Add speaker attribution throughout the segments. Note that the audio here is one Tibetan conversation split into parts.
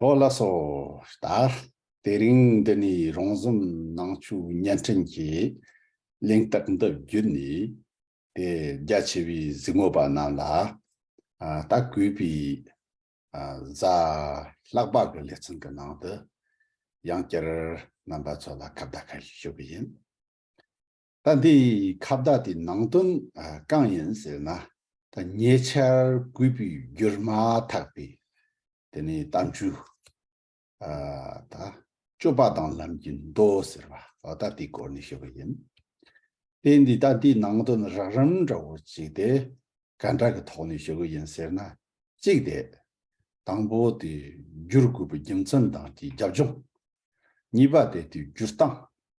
Speaker 1: ལྷོ་ལ་སོ། དག། དེ་རིང་འདི་ནས་རོང་ཟོམ་ནང་ཆོས་བརྙན་འཕྲིན་གྱི་གླེང་སྟེགས་འདི་བརྒྱུད་ནས་དེ་རྒྱ་ཆེ་བའི་གཟིགས་མོ་པ་རྣམས་ལ་ད་གུས་པའི་གཟའ་ལྷག་པ་གི་ལེ་ཚན་གི་ནང་དུ་ཡང་བསྐྱར་རྣམ་པ་ཚོ་ལ་ཁ་བརྡ་ཁ་ཤས་ཞུ་གི་ཡིན། ད་འདི་ཁ་བརྡ་དེ་ནང་དོན་གང་ཡིན་ཟེར་ན། ད་ཉེ་ཆར་གུས་པའི་བསྒྱུར་མ་ཐག་པའི་དེ་ནི་གཏམ་རྒྱུད། ད་སྤྱོད་པ་དང་ལམ་གྱི་མདོ་ཟེར་བ་ད་དེའི་སྐོར་ནས་ཞུ་བ་ཡིན། དེ་འདི་ད་འདི་ནང་དོན་རགས་རིམ་འདྲ་བོ་གཅིག་དེ་ག་འདྲ་གི་ཐོག་ནས་ཞུ་གི་ཡིན་ཟེར་ན། གཅིག་དེ་དང་པོ་དེ་བསྒྱུར་དགོས་པའི་རྒྱུ་མཚན་དང་དེའི་རྒྱབ་ལྗོངས། གཉིས་པ་དེ་དེའི་བསྒྱུར་སྟངས།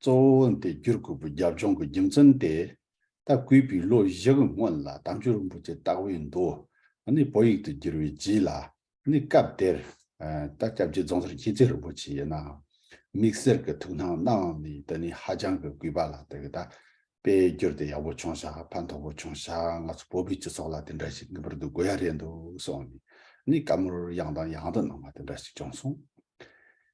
Speaker 1: གཙོ་བོ་འོན་ཏེ་བསྒྱུར་དགོས་པའི་རྒྱབ་ལྗོངས་ཀྱི་རྒྱུ་མཚན་དེ། ལྟ་སྐུལ་པས་ལོ་བཞི་གི་སྔོན་ལ་དམ་ཆོས་རིན་པོ་ཆེ་བཏགས་པའི་མདོ་ནི་བོད་ཡིག་ཏུ་བསྒྱུར་བའི་རྗེས་ལ་ནི་སྐབས་དེར། ད་སྐྱབས་རྗེ་རྫོང་སར་མཁྱེན་བརྩེ་རིན་པོ་ཆེ་ཡིན་ནའང། དམིགས་བསལ་གྱི་ཐུགས་སྣང་གནང་ནས་དེ་ནི་ཧ་ཅང་གི་གུས་པ་ལ་དེ་གདའ། དཔེ་བསྒྱུར་དེ་ཡག་པོ་བྱུང་ཤག་ཕན་ཐོགས་པོ་བྱུང་ཤག་ང་ཚོ་བོད་པའི་སྤྱི་ཚོགས་ལ་དེ་འདྲ་ཞིག་ངེས་པར་དུ་དགོས་ཡ་རེད་འདུག་གསུངས་ནས་ནི་བཀའ་མོལ་ཡང་དང་ཡང་དུ་གནང་བ་དེ་འདྲ་ཞིག་བྱུང་སོང།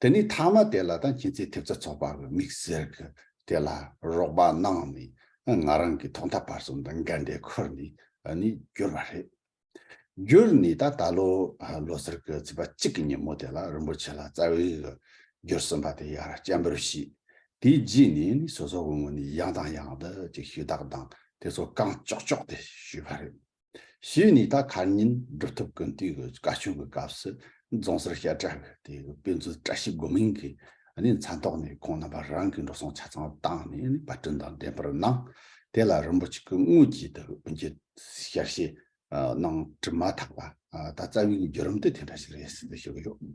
Speaker 1: དེ་ནས་ཐ་མ་དེ་ལ་དང་ཁྱེད་ཚོས་ཐེབས་རྩ་ཚོགས་པ་གི་མིག་ཟེར་གི་དེ་ལ་རོགས་པ་གནང་ནས་ང་རང་གི་ཐོག་མཐའ་བར་གསུམ་དུ་འགལ་འབྲེལ་འཁུར་ནས་ནས་བསྒྱུར་བ་རེད། བསྒྱུར་ནས་ད་ད་ལོ་ལོ་སར་གི་ཚེས་པ་གཅིག་གི་ཉིན་མོ་དེ་ལ་རིན་པོ་ཆེ་ལ་རྩ་བའི་གི་བསྒྱུར་ཟིན་པ་དེ་ཡང་ར་སྐྱ་འབུར་བྱས། དེའི་རྗེས་ནས་ནས་སོ་སོ་གི་ངོས་ནས་ཡང་དང་ཡང་དུ་ཅིག་ཞུ་དག་དང་དེ་ཚོ་རྐང་ལྕོག་ལྕོག་དེ་ཞུས་པ་རེད། ཞེས་ནས་ད་གར་ཉིན་སྒྲུབ་ཐབས་ཀུན་བཏུས་ཀྱི་བཀའ་བཀྱོན་གྱི་སྐབས་སུ་རྫོང་སར་བཤད་གྲྭ་བས་དེ་དཔེ་མཛོད་བཀྲ་ཤིས་སྒོ་མིང་གིས་ནས་མཚན་ཐོགས་ནས་ཁོང་རྣམ་པ་རང་གི་འགྲོ་སོང་ཆ་ཚང་བཏང་ནས་ནས་པར་སྐྲུན་དང་འགྲེམས་པར་གནང། དེ་ལ་རིན་པོ་ཆེ་སྐུ་དངོས་ཀྱིས་དེ་དབུ་འབྱེད་བསྐྱར་བཤད་གནང་གྲུབ་མ་ཐག་པ་ད་རྩ་བའི་བརྒྱུད་རིམ་དེ་དེ་འདྲ་ཞིག་རེད་ཟེར་ཏེ་ཞུ་གི་ཡོད།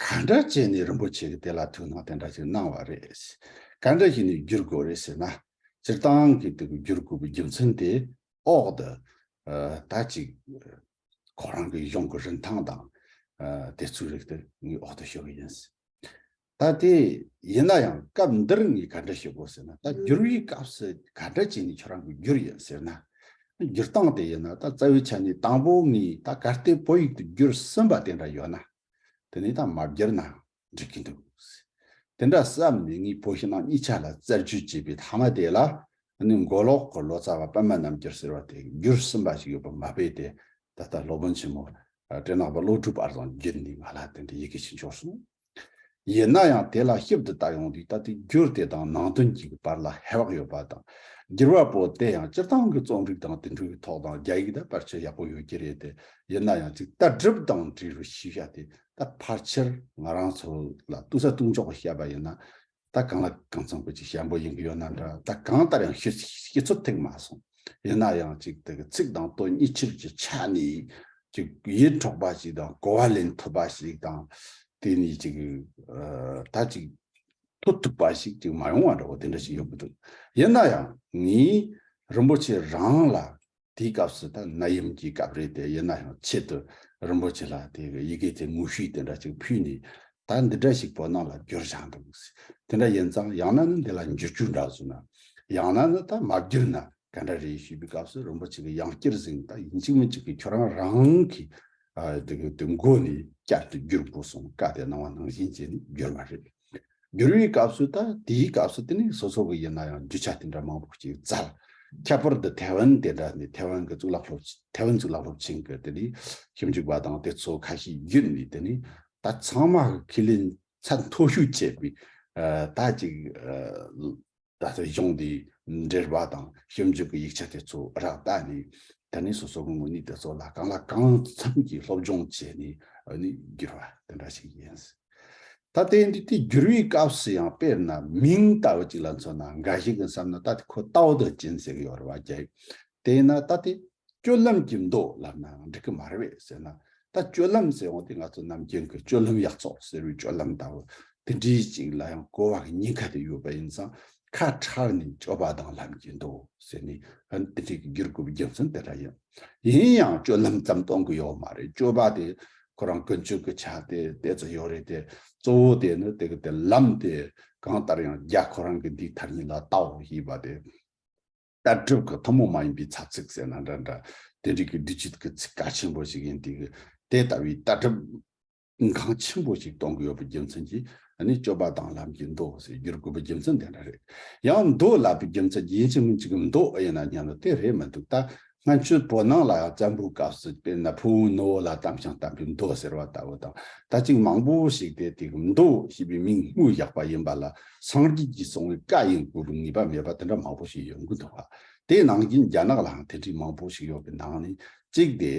Speaker 1: ག་འདྲ་བྱས་ནས་རིན་པོ་ཆེ་གི་དེ་ལ་ཐུགས་སྣང་དེ་འདྲ་ཞིག་གནང་བ་རེད། ག་འདྲ་བྱས་ནས་བསྒྱུར་དགོས་རེད་ཟེར་ན། སྤྱིར་བཏང་གི་དེ་གི་བསྒྱུར་དགོས་པའི་རྒྱུ་མཚན་དེ་འོག་ཏུ་ད་ཅིག་ཁོ་རང་གི་གཞུང་གི་རིན་ཐང་དང། དེ་ཚོའི་རིགས་དེ་ངའི་འོག་ཏུ་ཤོད་ཀྱི་ཡིན། ད་དེ་ཡིན་ན་ཡང་སྐབས་འདིར་ངས་ག་འདྲ་ཞུ་དགོས་ཟེར་ན་ད་བསྒྱུར་བའི་སྐབས་སུ་ག་འདྲ་བྱས་ནས་ཁྱོད་རང་གི་བསྒྱུར་ཡོད་ཟེར་ན། བསྒྱུར་སྟངས་དེ་ཡིན་ན་ད་རྩ་བའི་ཆ་ནས་དང་པོ་ངས་ད་གར་སྟེགས་བོད་ཡིག་ཏུ་བསྒྱུར་ཟིན་པ་དེ་འདྲ་ཡོད་ན། དེ་ནས་དང་མ་བསྒྱུར་ན་འགྲིག་གི་འདུག། དེ་འདྲ་བསམ་ནས་ངས་བོད་ཕྱི་ནང་གཉིས་ཆ་ལ་བཙལ་བཅོས་བྱས་པའི་མཐའ་མ་དེ་ལ་ནི་མགོ་ལོག་གི་ལོ་ཙཱ་བ་པདྨ་རྣམ་རྒྱལ་ཟེར་བ་དེས་བསྒྱུར་ཟིན་པ་ཞིག་ཡོད་པར་མ་དཔེ་དེ་ད་ལྟ་སློབ་དཔོན་ཆེན་མོ་བཀྲས་ནག་པ་བློ་གྲོས་པར་བཟང་བསྒྱུར་ནས་ང་ལ་དེ་འདྲའི་ཡི་གེ་ཞིག་འབྱོར་སོང། ཡིན་ན་ཡང་དེ་ལ་ཞིབ་ཏུ་བལྟ་ཡོང་དུས་ལྟ་དུས་འགྱུར་དེ་དང་ནང་དོན་གྱི་བར་ལ་ཧེ་བག་ཡོད་པ་དང། འགྱུར་བ་པོ་དེ་ཡང་སྤྱིར་བཏང་གི་རྩོམ་རིག་དང་དེ་འཕྲུལ་གྱི་ཐོག་དང་རྒྱ་ཡིག་དང་བར་ཁྱད་ཡག་པོ་ཡོད་ཀྱི་རེད་དེ། ཡིན་ན་ཡང་ཅིག་ལྟ་གྲུབ་དང་འབྲེལ་བའི་ཤེས་བྱ་དེ་ད་ཕར་ཆེར་ང་རང་ཚོ་ལ་ལྟོས་ས་ལྟོས་འཇོག་པ་བྱས་པ་ཡིན་ན། ད་གང་ལ་གང་འཚམས་ཀྱི་ཅིག་ཞན་པོ་ཡིན་གྱི་ཡོད་ན་འདྲ་ད་གང་ལྟར་ཡང་ཤེས་ཚོད་ཐིག་མ་སོང། ཡིན་ན་ཡང་ཅིག་དེ་གི་ཚིག་དང་དོན་གཉིས་ཆོས་ཀྱི་ཆ་ནས་ཅིག་ཡིད་འཕྲོག་པ་ཞིག་དང་གོ་བ་ལེན་ཐུབ་པ་ཞིག་དང། དེ་ནས་ཅིག་ད་ཅིག་ཐུབ་ཐུབ་པ་ཞིག་ཅིག་མ་ཡོང་བ་འདྲ་བོ་དེ་འདྲ་ཞིག་ཡོད་ཀྱི་འདུག་ཡིན་ན་ཡང་ངས་རིན་པོ་ཆེ་རང་ལ་དེའི་སྐབས་སུ་ད་ན་ཡུམ་གྱི་སྐབས་རེད་དེ་ཡིན་ན་ཡང་ཆེད་དུ་རིན་པོ་ཆེ་ལ་དེ་གི་ཡི་གེ་དེ་ངུ་ཤུས་དེ་འདྲ་ཅིག་ཕུལ་ནས་ད་འདི་འདྲ་ཞིག་བོད་ནང་ལ་བསྒྱུར་བཞག་འདུག་དེ་འདྲ་ཡིན་ཙང་ཡང་ན་ནི་འདི་ལ་འགྱུར་རྒྱུ་འདྲ་བཟོ་ན་ཡང་ན་ནི་ད་མ་བསྒྱུར་ན་ག་འདྲ་རེད་ཞུས་པའི་སྐབས་སུ་རིན་པོ་ཆེ་གིས་ཡང་བསྐྱར་གཟིགས་ན་ད་ཡིན་གཅིག་མིན་གཅིག་གིས་ཁྱོད་རང་རང་གི་དེ་མགོ་ནས་བསྐྱར་དུ་བསྒྱུར་དགོས་སོང་བཀའ་དེ་གནང་བ་ནང་བཞིན་བྱས་ནས་བསྒྱུར་བ་རེད། བསྒྱུར་བའི་སྐབས་སུ་ད་དེའི་སྐབས་སུ་དེ་ནི་སོ་སོ་གི་ཡིན་ན་ཡང་རྒྱུ་ཆ་དེ་འདྲ་མང་པོ་ཞིག་བཙལ། ཁྱད་པར་དུ་ཐའེ་ཝན་དེ་འདྲ་ནི་ཐའེ་ཝན་གྱི་གཙུག་ལག་སློབ་ཐའེ་ཝན་གཙུག་ལག་སློབ་ཆེན་གྱི་དེ་ནི་ཞིབ་འཇུག་པ་དང་དེ་ཚོ་ཁ་ཤས་བརྒྱུད་ནས་དེ་ནི་ད་ཚང་མ་གི་ཁས་ལེན་ཚད་མཐོ་ཤོས་བྱས་པའི་ད་ཅིག། ད་ལྟ་གཞུང་འདིའི་འགྲེལ་པ་དང་ཞིབ་འཇུག་གི་ཡིག་ཆ་དེ་ཚོ་རག་ལྟ་ནི། ད་ནི་སོ་སོ་ངོ་ངོ་ནི་དེ་ཚོ་ལ་གང་ལ་གང་འཚམ་གྱིས་སློབ་སྦྱོང་བྱས་ནས་ནི་བསྒྱུར་བ་དེ་འདྲ་ཞིག་ཡིན། ད་ལྟའི་འདི་དེ་བསྒྱུར་བའི་སྐབས་སུ་ཡང་དཔེར་ན་མིང་ལྟ་བུ་ཅིག་ལ་མཚོན་ན་འགའ་ཞིག་གིས་བསམ་ན་ད་དེ་ཁོ་ལྟ་བུ་དང་སྦྱིན་སྲེག་ཡོད་རེད་བ་རྒྱལ། དེས་ན་ད་དེ་སྤྱོད་ལམ་གྱི་མདོ་ལབ་ནའང་འགྲིག་གི་མ་རེད་བས་ཟེར་ན། ད་སྤྱོད་ལམ་ཟེར་འོང་དུས་ང་ཚོ་རྣམས་རྒྱན་གོས་སྤྱོད་ལམ་ཡག་ཚོགས་ཟེར་བའི་སྤྱོད་ལམ་ལྟ་བུ་དེ་འདྲི་ཅིག་ལ་ཡང་གོ་བ་གཉིས་ཀ་དེ་ཡོད་པ་ཡིན་ཙང་ཁ་ཁྲལ་ནི་སྤྱོད་པ་དང་ལམ་གྱི་མདོ་ཟེར་ནས་ཧིན་དྷི་གི་བསྒྱུར་དགོས་པའི་རྒྱུ་མཚན་དེ་འདྲ་ཡིན། ཡིན་ཡང་སྤྱོད་ལམ་ཙམ་གཏོང་གི་ཡོད་མ་རེད་སྤྱོད་པ་དེ་ཁོ་རང་ཀུན་སྤྱོད་ཀྱི་ཆ་དེ་དེ་ཙམ་ཡོད་རེད་དེ་གཙོ་བོ་དེ་ནི་དེ་གི་དེ་ལམ་དེ་གང་ལྟར་ཡང་རྒྱ་ཁོ་རང་གི་འདིའི་མཐར་ཉིད་ལ་བལྟའོ་ཞེས་པ་དེ། ལྟ་གྲུབ་ཀྱི་ཐུན་མོང་མ་ཡིན་པའི་ཚབ་ཚིག་ཟེར་ན་འདྲ་འདྲ། དེ་རིགས་ཀྱི་འབྲི་བྱེད་ཀྱི་ཚིག་གལ་ཆེན་པོ་ཞིག་ཡིན། དེ་ལྟ་བུའི་ལྟ་གྲུབ་འགངས་ཆེན་པོ་ཞིག་གཏོང་གི་ཡོད་པའི་རྒྱུ་མཚན་གྱིས་ནི་སྤྱོད་པ་དང་ལམ་གྱི་མདོ་ཞེས་བསྒྱུར་དགོས་པའི་རྒྱུ་མཚན་དེ་འདྲ་རེད། ཡང་མདོ་ལབ་པའི་རྒྱུ་མཚན་ཡིན་གཅིག་མིན་གཅིག་གི་མདོ་ཡིན་ན་སྙམ་ན་དེ་རེད་མི་འདུག་ད་སྔ་ཆོས་པོ་ནང་ལ་ཡང་བཙན་པོའི་སྐབས་སུ་དཔེར་ན་ཕུ་བོའི་ནུ་བོ་ལ་དམ་ཞིང་བསྟན་པའི་མདོ་ཟེར་བ་ལྟ་བུ་དང་ད་ཅིག་མང་པོ་ཞིག་དེ་དེ་གི་མདོ་ཞེས་པའི་མིང་དངོས་བཞག་པ་ཡིན་པ་ལ་སངས་རྒྱས་ཀྱིས་གསུང་བའི་བཀའ་ཡིན་ཁུལ་དུ་ངེས་པ་མེད་པ་དེ་འདྲ་མང་པོ་ཞིག་ཡོང་གི་འདུག་དེའི་ནང་བཞིན་རྒྱ་ནག་ལའང་དེ་འདྲའི་མང་པོ་ཞིག་ཡོང་བའི་ནང་ནས་གཅིག་དེ་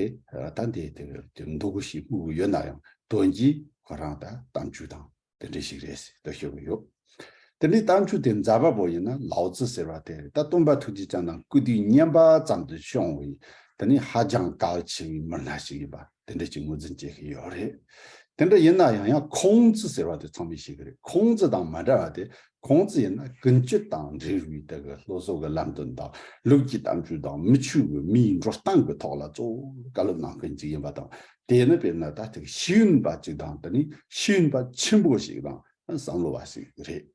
Speaker 1: ད་འདི་དེ་འདུག་གོ་ཞེས་དངུལ་དགོས་ཡོད་ན་ཡང་དོན་གྱིས་ཁོ་རང་ད་གཏམ་རྒྱུད་དང་དེ་འདྲ་ཞིག་རེད་ཟེར་དུ་ཤོར་གི་ཡོད། དེ་འདྲའི་གཏམ་རྒྱུད་དེ་འཛར་བ་པོ་ཡིན་ན་ལའོ་ཙི་ཟེར་བ་དེ་ད་སྟོན་པ་ཐུགས་རྗེ་ཅང་དང་སྐུ་དུས་བསྙེན་པ་ཙམ་དུ་ཤོང་བའི་དེ་ནི་ཧ་ཅང་གལ་ཆེ་བའི་མི་སྣ་ཞིག་ཡིན་པ་དེ་འདྲ་ཅིག་ངོས་འཛིན་བྱེད་ཀྱི་ཡོད་རེད། དེ་འདྲ་ཡིན་ན་ཡང་ཡང་ཁོང་ཙི་ཟེར་བ་དེ་ཚང་མས་ཤེས་ཀྱི་རེད་ཁོང་ཙི་དང་མ་འདྲ་བ་དེ་ཁོང་ཙི་ཡིན་ན་ཀུན་སྤྱོད་དང་འབྲེལ་བའི་དེ་གི་སློབ་གསོ་གི་ལམ་སྟོན་དང་ལུགས་ཀྱི་གཏམ་རྒྱུད་དང་མི་ཆོས་གི་མིའི་འགྲོ་སྟངས་གི་ཐོག་ལ་གཙོ་བོ་བཀའ་སློབ་གནང་མཁན་ཅིག་ཡིན་པ་དང་དེ་ནི་དཔེར་ན་ད་ཐེག་ཤེས་ཡོན་པ་ཅིག་དང་དེ་ནི་ཤེས་ཡོན་པ་ཆེན་པོ་ཞིག་དང་བསམ་བློ་བ་ཞིག་རེད།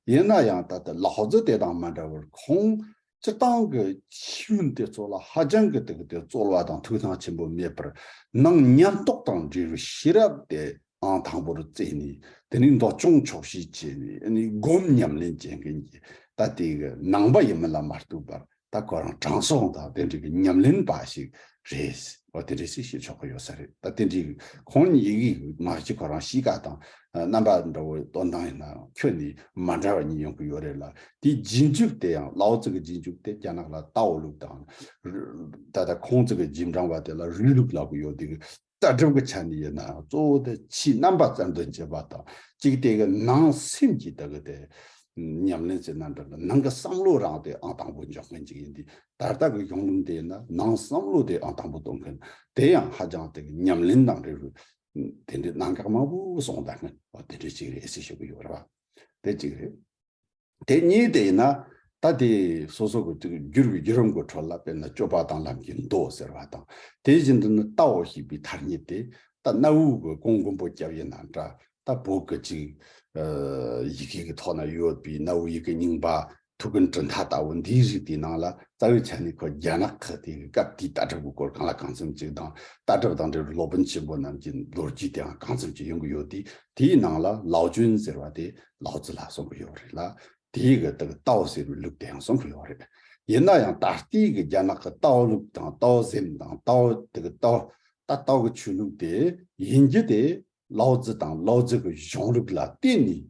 Speaker 1: ཡིན་ན་ཡང་ད་ལྟ་ལགས་ཙི་དེ་དང་མ་འདྲ་བར་ཁོང་སྤྱི་བཏང་གི་ཆོས་འདི་ཚོ་ལ་ཧ་ཅང་གི་དག་དེ་རྩོལ་བ་དང་ཐུགས་སྣང་ཆེན་པོ་མེད་པར་སྣང་ཉམས་རྟོགས་དང་འབྲས་བུ་ཤེས་རབ་དེའང་དང་པོར་བཙལ་ནས་དེ་ནས་མདོ་སྐྱོང་ཆོག་ཤེས་བྱས་ནས་སྒོམ་ཉམས་ལེན་བྱེད་མཁན་གྱི་ད་ལྟའི་གི་ནང་པ་ཡིན་མིན་ལ་མ་ལྟོས་པར་ད་གོ་རང་དྲང་སྲོང་དང་དེ་འདྲ་གི་ཉམས་ལེན་པ་ཞིག་རེད། འོ་དེ་རེད་ཅེས་བཤད་ཆོག་གི་ཡོད་ས་རེད་ད་དེ་འདྲའི་ཁོང་ཉིད་ཡི་གེ་མ་གཅིག་ཁོ་རང་གཤིས་ཀ་དང་རྣམ་པ་འདྲ་བོ་སྟོན་སྟངས་ཡིན་ནའང་ཁྱོད་ནི་མ་འདྲ་བ་གཉིས་ཡོང་གི་ཡོད་རེད་ལ་དེའི་རྗེས་འཇུག་དེ་ཡང་ལའོ་ཙི་གི་རྗེས་འཇུག་དེ་རྒྱ་ནག་ལ་ཏའོ་ལུགས་དང། ད་ལྟ་ཁོང་ཚོ་གི་རྗེས་འབྲང་བ་དེ་ལ་རུའུ་ལུགས་ལབ་གི་ཡོད་དེ་ལྟ་གྲུབ་ཀྱི་ཆ་ནས་ཡིན་ནའང་གཙོ་བོ་དེ་ཕྱིའི་རྣམ་པ་རྩལ་འདོན་བྱེད་པ་དང་གཅིག་དེ་གི་ནང་སེམས་ཀྱི་དེ་གི་དེ་ཉམས་ལེན་ཟེར་ན་འདྲ་ལ་ནང་གི་བསམ་བློ་རང་དེ་ཨང་དང་པོ་འཇོག་མཁན་གཅིག་ཡིན་དེ་ད་ལྟ་གི་གཞུང་ལུགས་འདིའི་ནང་བསམ་བློ་དེ་ཨང་དང་པོ་གཏོང་མཁན་དེ་ཡང་ཧ་ཅང་དེ་གི་ཉམས་ལེན་དང་འབྲེལ་བའི་དེ་འདྲའི་གནང་གག་མང་པོ་སོང་ད་ནི་དེ་འདྲའི་ཅིག་རེད་ཟེར་ཞུ་གི་ཡོད་རེད་བ་དེ་གཅིག་རེད། དེ་གཉིས་དེ་ཡིན་ན་ད་དེ་སོ་སོ་གི་དེ་གི་རྒྱུར་བའི་རྒྱུ་རང་གི་འཕྲོ་ལ་དཔེར་ན་སྤྱོད་པ་དང་ལམ་གྱི་མདོ་ཟེར་བ་དང་དེ་བཞིན་དུ་ནི་ལྟའོ་ཞེས་པའི་མཐར་ཉིད་དེ་ད་གནའ་བོའི་གི་གོང་མགོན་པོ་སྐྱབས་ཡིན་ན་འདྲ་ད་བོད་སྐད་ཅིག་ཡི་གེ་གི་ཐོག་ན་ཡོད་པའི་གནའ་བོའི་ཡི་གེ་རྙིང་པ་ཐུགས་ཀྱི་འབྲུ་མཐའ་ལྟ་བུ་འདིའི་རིགས་དེའི་ནང་ལ་རྩ་བའི་ཆ་ནས་ཁོ་རྒྱ་ནག་གི་དེ་གའི་སྐབས་དེའི་ལྟ་གྲུབ་ཀྱི་སྐོར་གང་ལ་གང་འཚམ་ཅིག་དང་ལྟ་གྲུབ་དང་འབྲེལ་བའི་སློབ་དཔོན་ཆེན་པོ་རྣམས་ཀྱི་ལོ་རྒྱུས་དེའང་གང་འཚམ་ཅིག་ཡོང་གི་ཡོད་དེ་དེའི་ནང་ལ་ལའོ་ཅུན་ཟེར་བ་དེ་ལའོ་ཙི་ལགས་གསུང་གི་ཡོད་རེད་ལ་དེའི་གི་དག་ཏའོ་ཟེར་བའི་ལུགས་དེའང་གསུང་གི་ཡོད་རེད། ཡིན་ན་ཡང་ད་ལྟའི་གི་རྒྱ་ནག་གི་ཏའོ་ལུགས་དང་ཏའོ་སེམས་དང་ཏའོ་དེ་གི་ཏའོ་ད་ཏའོ་གི་ཆོས་ལུགས་དེ་ཡིན་རྒྱུ་དེ་ལའོ་ཙི་དང་ལའོ་ཙི་གི་གཞུང་ལུགས་ལ་བརྟེན་ནས་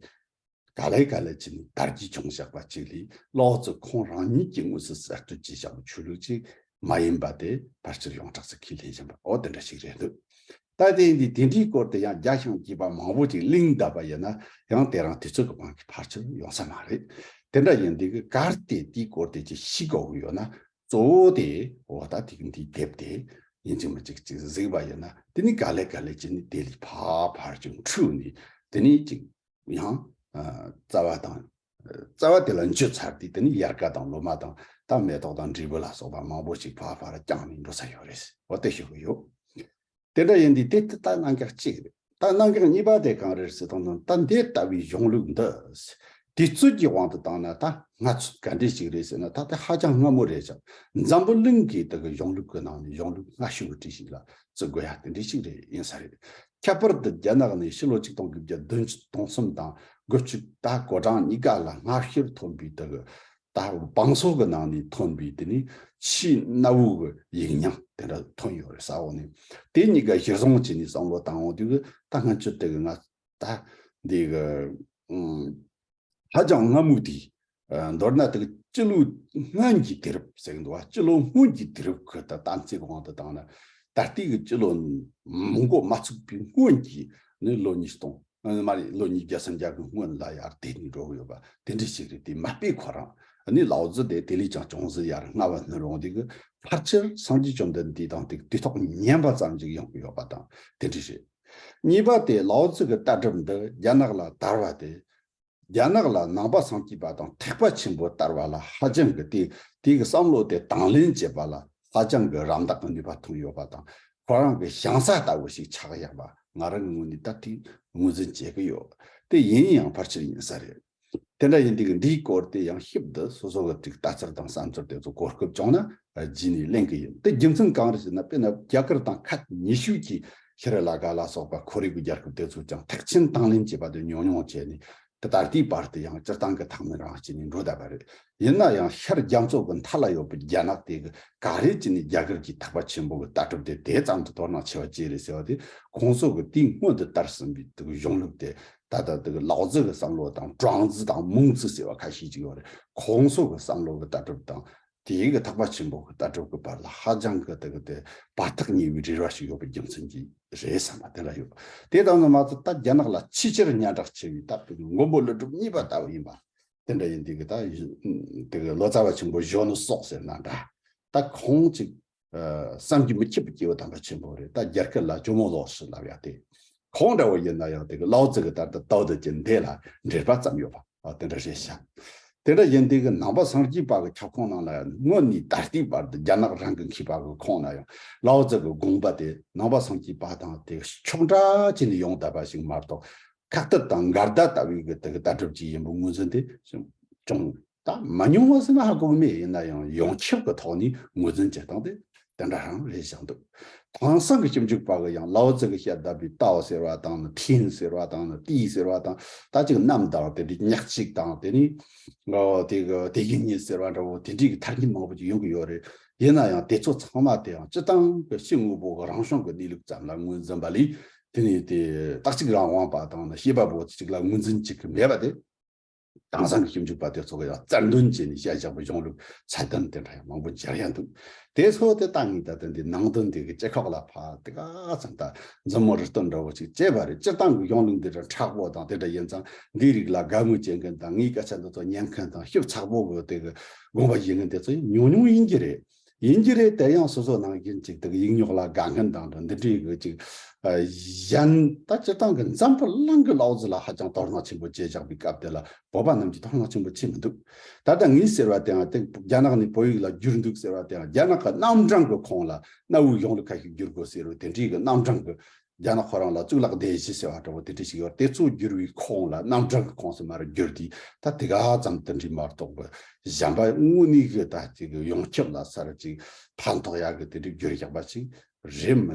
Speaker 1: ག་ལེ་ག་ལེ་བྱས་ནས་དར་རྒྱས་བྱུང་ཞེས་པ་ཅིག་ལས་ལའོ་ཙི་ཁོང་རང་ཉིད་ཀྱིས་དངོས་སུ་གསར་གཏོད་བྱས་བཞག་པའི་ཆོས་ལུགས་ཅིག་མ་ཡིན་པ་དེ་ཕར་ཆེར་ཡོངས་གྲགས་སུ་ཁས་ལེན་བཞིན་པ་འོ་དེ་འདྲ་ཞིག་རེད་འདོད། ད་ལྟའི་འདི་དེ་འདྲའི་སྐོར་དུ་ཡང་རྒྱ་ཞང་སྐྱིད་པ་མང་བོ་ཅིག་གླིང་གདབ་པ་ཡིན་ན་ཡང་དེ་རང་དེ་ཚོ་གི་དབང་གིས་ཕར་ཆེར་ཡོང་ས་མ་རེད། དེ་འདྲ་ཡིན་དུས་གར་སྟེ་དེའི་སྐོར་དེ་ཅིག་ཤི་གོ་གི་ཡོད་ན་གཙོ་བོ་དེ་འོ་ད་ཐིག་འདི་བསྡེབས་ཏེ་ཡིན་ཅིག་མ་ཅིག་ཅིག་གཟིགས་པ་ཡིན་ན་དེ་ནི་ག་ལེ་ག་ལེ་ཅི་ནི་དེ་ལས་ཕ་ཕར་ཅིག་འཁྲུགས་ནས་དེ་ནི་ཅིག་ཡང་རྩ་བ་དང། རྩ་བ་དེ་ལ་འཇུ་ཚར་དུས་དེ་ནི་ཡར་ཀ་དང་ལོ་མ་དང་དང་མེ་ཏོག་དང་འབྲས་བུ་ལ་སོགས་པ་མང་པོ་ཞིག་ཕ་ཕར་བརྐྱངས་ནས་འགྲོ་ས་ཡོད་རེད་ཟེར་བ་དེ་ཤོད་ཀྱི་ཡོད། དེ་འདྲ་ཡིན་དུས་དེ་ལྟ་སྣང་གགས་གཅིག་རེད། ལྟ་སྣང་གགས་གཉིས་པ་དེ་གང་རེད་ཟེར་དོན་ནི་ལྟ་འདི་ལྟ་བུའི་གཞུང་ལུགས་འདི། དུས་ཚོད་ཀྱི་དབང་དུ་བཏང་ན་ད་སྔ་ཚོད་ག་འདྲས་ཞིག་རེད་ཟེར་ན་ད་དེ་ཧ་ཅང་སྔ་མོ་རེད་ཅིང་འཛམ་བུ་གླིང་གི་དེ་གི་གཞུང་ལུགས་ཀྱི་ནང་ནས་གཞུང་ལུགས་སྔ་ཤོས་ཀྱི་བྲིས་ཤིག་ལ་བརྩི་དགོས་ཡ་དེ་འདྲས་ཤིག་རེད་ཡིན་ས་རེད། ཁྱད་པར་དུ་རྒྱ་ནག་ནས་ཕྱི་ལོ་ཆིག་སྟོང་དགུ་བརྒྱ་བདུན་ཅུ་དང་གསུམ་དང་དགུ་བཅུ་ད་གོ་གྲངས་གཉིས་ཀ་ལ་སྔ་ཤོས་ཐོན་པའི་དེ་གི་ད་བང་སོ་གི་ནང་ནས་ཐོན་པའི་དེ་ནི་ཕྱིའི་སྣ་བུག་གི་ཡིག་ཉམས་དེ་འདྲ་ཐོན་ཡོད་རེད་ས་འོག་ནས་དེ་གཉིས་ཀ་གཞིར་བཟུང་བྱས་ནས་བསམ་བློ་བཏང་འོང་དུས་ཀྱི་ད་སྔ་ཅི་སྟེ་གི་ང་ད་འདི་གི་ཧ་ཅང་སྔ་མོ་དུས་མདོར་ན་དེ་གི་སྤྱི་ལོའི་སྔོན་གྱི་དུས་རབས་ཟེར་གི་འདུག་བ་སྤྱི་ལོའི་སྔོན་གྱི་དུས་རབས་ཁུལ་དུ་གཏམ་ཚིག་དབང་དུ་བཏང་ན་ད་ལྟའི་གི་སྤྱི་ལོ་མང་པོ་མ་ཚུགས་པའི་སྔོན་གྱི་ནི་ལོ་ཉིས་སྟོང། ངོ་མ་རེད་ལོ་ཉིས་བརྒྱ་སུམ་བརྒྱ་གི་སྔོན་ལ་ཡར་དེད་ནས་འགྲོ་གི་ཡོད་པ་དེ་འདྲ་ཞིག་རེད་དེ་མ་དཔེ་ཁོ་རང་ནི་ལའོ་ཙི་དེ་དེ་ལས་ཀྱང་ཅུང་ཟད་ཡར་སྔ་བ་སྣུར་འོང་དུས་ཀྱི་ཕར་ཆེར་སངས་རྒྱས་བཅོམ་ལྡན་འདས་དང་དེ་ཐོག་མཉན་པ་ཙམ་ཅིག་ཡོང་གི་ཡོད་པ་དང་དེ་འདྲ་རེད། གཉིས་པ་དེ་ལའོ་ཙི་གི་ལྟ་གྲུབ་འདི་རྒྱ་ནག་ལ་དར་བ་དེ་རྒྱ་ནག་ལ་ནང་པ་བཟང་སྐྱིད་པ་དང་ཐེག་པ་ཆེན་པོ་དར་བ་ལ་ཧ་ཅང་གི་དེ་དེ་གི་བསམ་བློ་དེ་དང་ལེན་བྱེད་པ་ལ་ཧ་ཅང་གི་རམ་འདེགས་གི་ནུས་པ་ཐོན་ཡོད་པ་དང་ཁོ་རང་གི་བྱང་ས་ལྟ་བུ་ཞིག་ཆགས་ཡག་པ་ང་རང་ངོས་ནས་ད་ཐིག་ངོས་འཛིན་བྱེད་གི་ཡོད་དེ་ཡིན་ཡང་ཕར་ཆེར་ཡིན་ས་རེད། དེ་འདྲ་ཡིན་དུས་འདིའི་སྐོར་དེ་ཡང་ཤིབ་དུ་སོ་སོ་གི་ཚིག་ལྟ་ཚུལ་དང་བསམ་ཚུལ་དེ་ཚོ་གོ་སྐབས་བྱུང་ན་རྗེས་ནས་གླེང་གི་ཡིན། དེ་རྒྱུ་མཚན་གང་རེད་ཟེར་ན་དཔེར་ན་རྒྱ་གར་དང་ཁ་ཉེ་ཤོས་ཀྱི་ཤི་རི་ལ་ཀ་ལ་སོགས་པ་ཁོར་ཡུག་གི་རྒྱལ་ཁབ་དེ་ཚོས་ཀྱང་ཐེག་ཆེན་དང་ལེན་བྱས་པ་དེ་ཉོག་ཉོག་བྱས་ནས་དེ་ད་ལྟའི་བར་དུ་ཡང་སྤྱིར་བཏང་གི་ཐང་མི་རང་བྱས་ནས་འགྲོ་བསྡད་པ་རེད། ཡིན་ན་ཡང་ཤར་རྒྱ་མཚོ་གི་མཐའ་ལ་ཡོད་པའི་རྒྱ་ནག་དེ་གི་ག་རེ་བྱས་ནས་རྒྱ་གར་གྱི་ཐག་པ་ཆེན་པོ་གི་ལྟ་གྲུབ་དེ་དེ་ཙམ་དུ་དོ་སྣང་ཆེ་བ་བཅས་རེད་ཟེར་བ་དེ་ཁོང་སོགས་ཀྱི་དུས་སྔོན་དུ་དར་ཟིན་པའི་དེ་གི་གཞུང་ལུགས་དེ་ད་ལྟ་དེ་གི་ལའོ་ཙི་གི་བསམ་བློ་དང་ཀྲང་ཙི་དང་མུང་ཙི་ཟེར་བ་ཁ་ཤས་ཅིག་ཡོད་རེད་ཁོང་སོགས་ཀྱི་བསམ་བློ་གི་ལྟ་གྲུབ་དང་དེ་ཡི་གི་ཐག་པ་ཆེན་པོ་གི་ལྟ་གྲུབ་གི་བར་ལ་ཧ་ཅང་གི་དེ་གི་དེ་བར་ཐག་ཉེ་བའི་རེ་བ་ཞིག་ཡོད་པའི་རྒྱུ་མཚན་གྱིས་རེད་བསམ་པ་དེ་འདྲ་ཡོད། དེ་ལྟ་ན་མ་ཚད་ད་རྒྱ་ནག་ལ་ཆེས་ཆེར་སྙན་གྲགས་ཆེ་བའི་ད་དེ་གི་མགོན་པོ་ལི་གྲུབ་གཉིས་པ་ལྟ་བུ་ཡིན་པ་དེ་འདྲ་ཡིན་དེ་གི་ད་དེ་གི་ལོ་ཙཱ་བ་ཆེན་པོ་གཞོན་ནུ་སོགས་ཟེར་ན་འདྲ་ད་ཁོང་ཅིག་བསམ་གྱིས་མི་ཁྱབ་པའི་སྐྱེ་བོ་དམ་པ་ཆེན་པོ་རེད་ད་རྒྱ་སྐད་ལ་ཇོ་མོ་ལོགས་སུ་ལབ་ཡ་དེ་གང་འདྲ་བོ་ཡིན་ན་ཡང་དེ་གི་ལའོ་ཙི་གི་ལྟར་དུ་ཏའོ་ཏི་ཀྱི་འདས་ལ་འབྲེལ་པ་ཙམ་ཡོད་པ་དེ་འདྲ་རེད་བཞག་དེ་འདྲ་ཡིན་དེ་གི་ནང་པ་སངས་རྒྱས་པ་གི་ཁྱབ་ཁོངས་ནང་ལ་ཡང་དངོས་ནས་ད་ལྟའི་བར་དུ་རྒྱ་ནག་རང་གི་མཁས་པ་གི་ཁོངས་ན་ཡང་ལའོ་ཙི་གི་དགོངས་པ་དེ་ནང་པ་སངས་རྒྱས་པ་དང་དེ་གི་ཕྱོགས་འདྲ་བྱས་ནས་ཡོང་བསྡད་པ་ཞིག་མ་གཏོགས་ཁག་ཐབས་དང་འགལ་ཟླ་ལྟ་བུའི་གི་དེ་གི་ལྟ་གྲུབ་ཅིག་ཡིན་པའི་ངོས་འཛིན་དེ་ཅུང་ད་མ་ཉུང་བ་སེམས་ཧ་སྐུག་མེད་ཡིན་ན་ཡང་ཡོངས་ཁྱབ་ཀྱི་ཐོག་ནས་ངོས་འཛིན་བྱེད་སྟངས་དེ་དེ་འདྲ་རང་རེད་བཞག་འདུག་དེང་སང་གི་ཞིབ་འཇུག་པ་གི་ཡང་ལའོ་ཙི་གི་ཤ་བརྡབ་པའི་ཏའོ་ཟེར་བ་དང་ནི་ཐིན་ཟེར་བ་དང་ནི་ཏི་ཟེར་བ་དང་ད་ཅིག་རྣམས་དང་དེ་འདྲའི་ཉག་གཅིག་དང་དེ་ནི་དེ་གི་དེ་གི་ཉིད་ཟེར་བ་འདྲ་བོ་དེ་འདྲའི་གི་ཐ་སྙད་མང་པོ་ཅིག་ཡོང་གི་ཡོད་རེད་ཡིན་ན་ཡང་དེ་ཚོ་ཚང་མ་དེ་ཡང་སྤྱི་བཏང་གི་ཕྱི་དངོས་པོ་གི་རང་བྱུང་གི་གནས་ལུགས་ཙམ་ལ་ངོས་འཛིན་པ་ལས་དེ་ནི་དེ་རྟག་གཅིག་རང་དབང་པ་དང་ནི་ཤེས་པ་པོ་ཅིག་ལ་ངོས་འཛིན་བྱེད་ཀྱི་མེད་པ་དེ། དེང་སང་གི་ཞིབ་འཇུག་པ་དེ་ཚོ་གི་ཡང་རྩལ་འདོན་བྱས་ནས་ཤ་བཞག་པའི་གཞུང་ལུགས་ཚད་ལྡན་དེ་འདྲ་ཡང་མང་པོ་སྦྱར་ཡ་འདུག་དེ་ཚོ་དེ་ལྟ་ངེས་ད་ལྟ་འདི་ནང་དོན་འདི་གི་ལྕེ་ཁོག་ལ་ཕར་དེ་ག་ཙམ་ད་མཛུབ་མོ་རི་ལྟོ་འདྲ་བོ་ཞིག་བཅད་པ་རེད་སྤྱིར་བཏང་གི་གཞུང་ལུགས་འདི་འདྲ་དྲག་པོ་དང་དེ་འདྲ་ཡིན་ཙང་འདིའི་རིགས་ལ་དགའ་མོས་བྱེད་མཁན་དང་ངའི་སྐད་ཆ་འདི་ཚོ་ཉན་མཁན་དང་ཞིབ་ཚགས་པོ་གི་དེ་གི་དགོངས་པ་བཞེས་མཁན་དེ་ཚོ་ཡང་ཉུང་ཉུང་ཡིན་གྱི་རེད། ཡིན་གྱི་རེད་དེ་ཡང་སོ་སོ་ནང་བཞིན་ཅིག་དག་ཡིག་ཉོག་ལ་དགའ་མཁན་དང་འདྲ་འདི་འདྲའི་གི་ཅིག་གཞན། ད་སྤྱིར་བཏང་གི་འཛམ་བུ་གླིང་གི་ལའོ་ཙི་ལ་ཧ་ཅང་དོགས་སྣང་ཆེན་པོ་སྐྱེས་བཞག་པའི་སྐབས་དེ་ལ་བོད་པ་རྣམས་ཀྱི་དོགས་སྣང་ཆེན་པོ་བྱེད་མི་འདུག་ད་ལྟ་ངས་ཟེར་བ་དེའང་སྟེ་རྒྱ་ནག་ནས་བོད་ཡིག་ལ་བསྒྱུར་འདུག་ཟེར་བ་དེའང་རྒྱ་ནག་གི་རྣམ་གྲངས་ཀྱི་ཁོངས་ལ་གནའ་བོའི་གཞུང་ལུགས་ཁ་ཤས་བསྒྱུར་དགོས་ཟེར་བའི་དེ་འདྲའི་གི་རྣམ་གྲངས་ཀྱི་རྒྱ་ནག་ཁོ་རང་ལ་གཙུག་ལག་སྡེ་བཞི་ཟེར་བ་འདྲ་བོ་དེ་འདྲ་ཞིག་ཡོད་དེ་གཙོ་བསྒྱུར་བའི་ཁོངས་ལ་རྣམ་གྲངས་ཀྱི་ཁོངས་སུ་མར་བསྒྱུར་དུས་ད་དེ་ག་ཙམ་དུ་འདྲིས་མ་གཏོགས་པ་གཞན་པ་དངོས་གནས་ཀྱི་ད་ཅིག་ཡོངས་ཁྱབ་ལ་གསར་ཅིག་ཕན་ཐོགས་ཡག་གི་དེ་འདྲའི་བསྒྱུར་ཞགས་པ་ཞིག་རེད་མི་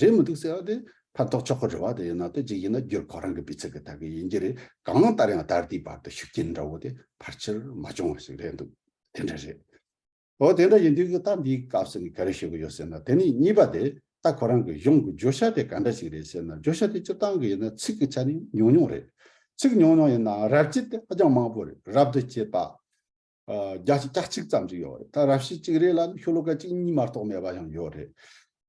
Speaker 1: རེད་མི་འདུག་ཟེར་བ་དེ་ཕན་ཐོགས་ཆོག་གི་རེད་བ་དེ་ཡིན་ན་དེ་ཅིག་ཡིན་ན་བསྒྱུར་ཁོ་རང་གི་སྤུས་ཚད་ཀྱི་ཐད་ཀྱི་ཡིན་གྱི་རེད་གང་ལྟར་ཡང་ད་ལྟའི་བར་དུ་ཤུགས་རྐྱེན་འདྲ་བོ་དེ་ཕར་ཆེར་མ་བྱུང་བ་ཞིག་རེད་འདུག་དེ་འདྲ་རེད། འོ་དེ་འདྲ་ཡིན་དུས་ཀྱི་རྟགས་འདིའི་སྐབས་སུ་ནི་ག་རེ་ཞུ་གི་ཡོད་ཟེར་ན་དེ་ནི་གཉིས་པ་དེ་རྟགས་ཁོ་རང་གི་གཞུང་གི་བརྗོད་བྱ་དེ་ག་འདྲ་ཞིག་རེད་ཟེར་ན་བརྗོད་བྱ་དེ་སྤྱིར་བཏང་གི་ཡིན་ན་ཚིག་གི་ཆ་ནི་ཉུང་ཉུང་རེད། ཚིག་ཉུང་ཉུང་ཡིན་ནའང་རབ་བྱེད་དེ་ཧ་ཅང་མང་པོ་རེད་རབ་ཏུ་བྱེད་པ། རྒྱ་བྱེད་གྱ་གཅིག་ཙམ་ཞིག་ཡོད་རེད་ད་རབ་བྱེད་གཅིག་རེ་ལ་ནི་ཤུ་ལོ་ཀ་གཅིག་གཉིས་མ་གཏོགས་མེད་པ་ཡང་ཡོད་རེད།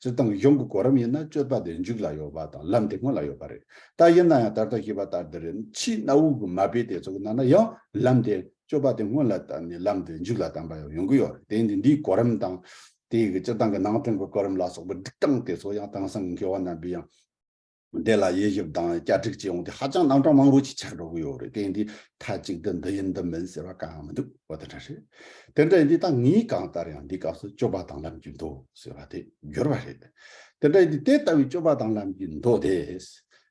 Speaker 1: སྤྱིར་བཏང་གཞུང་གི་གོ་རིམ་ཡིན་ན་སྤྱོད་པ་དེ་མཇུག་ལ་ཡོད་པ་དང་ལམ་དེ་སྔོན་ལ་ཡོད་པ་རེད། ད་ཡིན་ན་ཡང་ད་ལྟ་བྱས་པ་ལྟར་འདི་རེད་ཕྱིའི་གནའ་བོའི་གི་མ་དཔེ་དེ་ཚོ་གི་ནང་ན་ཡང་ལམ་དེ་སྤྱོད་པ་དེ་སྔོན་ལ་བཏབ་ནས་ལམ་དེ་མཇུག་ལ་བཏང་པ་ཡང་ཡོང་གི་ཡོད་རེད་དེ་ནི་འདིའི་གོ་རིམ་དང། དེའི་གི་སྤྱིར་བཏང་གི་ནང་དོན་གི་གོ་རིམ་ལ་སོགས་པའི་སྒྲིག་སྟངས་དེ་ཚོ་ཡང་དེང་སང་གི་མཁས་བ་རྣམ་པས་ཡང། འདི་ལ་དབྱེ་ཞིབ་དང་བསྐྱར་སྒྲིག་བྱས་འོང་དུས་ཧ་ཅང་རྣམ་གྲངས་མང་པོ་ཞིག་ཆགས་འགྲོ་གི་ཡོད་རེད་དེ་འདི་མཐའ་གཅིག་ཏུ་འདི་ཡིན་འདི་མིན་ཟེར་བ་གང་ཡང་མི་འདུག་འོ་དེ་འདྲ་རེད། དེ་འདྲ་ཡིན་དུས་ད་ངས་གང་ལྟར་ཡང་འདིའི་སྐབས་སུ་སྤྱོད་པ་དང་ལམ་གྱི་མདོ་ཟེར་བ་དེ་བསྒྱུར་བ་རེད། དེ་འདྲ་ཡིན་དུས་དེ་ལྟ་བུའི་སྤྱོད་པ་དང་ལམ་གྱི་མདོ་དེས།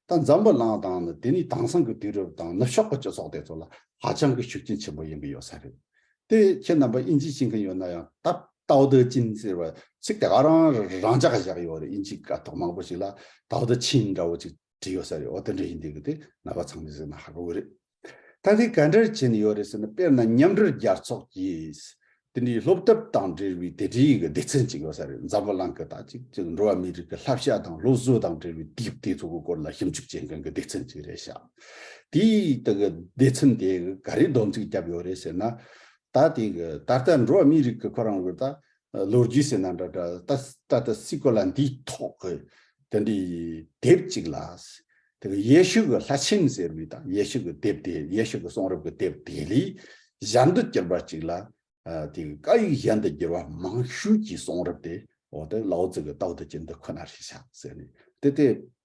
Speaker 1: ད་འཛམ་བུ་གླིང་དང་ནི་དེ་ནས་དེང་སང་གི་དུས་རབས་དང་ནུབ་ཕྱོགས་ཀྱི་སྤྱི་ཚོགས་དེ་ཚོ་ལ་ཧ་ཅང་གི་ཤུགས་རྐྱེན་ཆེན་པོ་ཡོང་གི་ཡོད་ས་རེད། དེ་ཁྱེད་རྣམ་པ་ཨིན་ཇི་ཤེས་མཁན་ཡོད་ན་ཡང་ད་ཏའོ་ཏའི་ཅིན་ཟེར་བ་ཚིག་དེ་ག་རང་རང་ཅག་ག་བཞག་ཡོད་རེད་ཨིན་ཇི་དགའ་ཐོག་མང་པོ་ཞིག་ལ་ཏའོ་ཏའི་ཆིན་འདྲ་བོ་ཅིག་བྲིས་ཡོད་ས་རེད་འོ་དེ་འདྲ་ཡིན་དུས་གི་དེ་ན་བ་ཚང་མས་གཟིགས་ན་ཧ་གོ་གི་རེད། ད་དེ་ག་འདྲར་བྱས་ནས་ཡོད་རེད་ཟེར་ན་དཔེར་ན་མཉམ་འབྲེལ་རྒྱལ་ཚོགས་ཀྱིས་དེ་འདྲའི་སློབ་གྲབས་དང་འབྲེལ་བའི་དེ་འདྲའི་གི་སྡེ་ཚན་ཅིག་ཡོད་ས་རེད་འཛམ་བུ་གླང་གི་ད་ཅིག་ཅིག་འགྲོ་བ་མིའི་རིགས་ཀྱི་ལྷ་བཤའ་དང་ལོ་གསོས་དང་འབྲེལ་བའི་དེའི་དེ་ཚོ་གི་སྐོར་ལ་ཞིབ་འཇུག་བྱེད་མཁན་གི་སྡེ་ཚན་ཅིག་རེད་ཤག། དེས་ད་གི་སྡེ་ཚན་དེ་ག་རེ་སྡོམ་ཚིག་བརྒྱབ་ཡོད་རེད་ཟེར་ན། ད་དེ་གི་ད་ལྟ་འགྲོ་བ་མིའི་རིགས་ཀྱི་ཁོ་རང་བོད་ད་ལོ་རྒྱུས་ཟེར་ན་འདྲ་འདྲ་ད་ད་ལྟ་སི་ཀོ་ལ་འདིའི་ཐོག་གི་དེ་འདྲའི་དེབ་ཅིག་ལ། དེ་གི་ཡེ་ཤུ་གི་ལྷ་ཆེན་ཟེར་བའི་ད་ཡེ་ཤུ་གི་དེབ་དེ་ཡེ་ཤུ་གི་གསུང་རབ་ཀྱི་དེབ་དེ་ལས་གཞན་དུ་གྱུར་པ་ཅིག་ལ། དེ་གི་བཀའ་ཡིག་གཞན་དུ་བསྒྱུར་བ་མང་ཤོས་ཀྱི་གསུང་རབ་དེ་འོ་དེ་ལའོ་ཙི་གི་ཏའོ་ཏི་ཅི་འདི་ཁོ་ན་རེད་བཞག་ཟེར་ནས་དེ་དེ་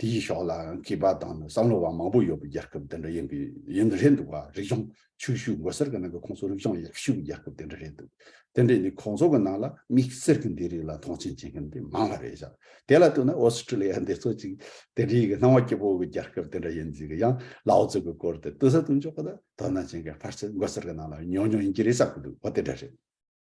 Speaker 1: དེའི་ཕྱོགས་ལའང་སྐྱིད་པ་དང་ནི་བསམ་བློ་བ་མང་པོ་ཡོད་པའི་རྒྱལ་ཁབ་དེ་འདྲ་ཡིན་པའི་ཡིན་དུ་རེད་འདུག་རིག་གཞུང་ཕྱུག་ཤུགས་མགོ་སེར་གྱི་ནང་གི་ཁོང་ཚོ་རིག་གཞུང་ཡག་ཤོས་ཀྱི་རྒྱལ་ཁབ་དེ་འདྲ་རེད་འདུག་དེ་འདྲས་ནི་ཁོང་ཚོ་གི་ནང་ལ་མིག་སེར་གྱི་འདི་རིགས་ལ་མཐོང་ཆེན་བྱེད་མཁན་དེ་མང་བ་རེད་བཞག་དེ་ལ་ལྟོས་ན་ཨོ་སི་ཀྲི་ལི་ཡ་འདི་ཚོ་ཅིག་དེ་འདྲས་ཀྱི་སྣང་བ་སྐྱིད་པོ་བའི་རྒྱལ་ཁབ་དེ་འདྲ་ཡིན་ཟིག་གི་ཡང་ལའོ་ཙི་གི་སྐོར་དེ་ཏི་ས་དུ་འཇོག་གི་དོ་སྣང་བྱེད་མཁན་ཕར་ཚད་མགོ་སེར་གྱི་ནང་ལ་ཉུང་ཉུང་ཡིན་གྱི་རེད་བསམ་གྱི་འདུག་འོ་དེ་འདྲ་རེད།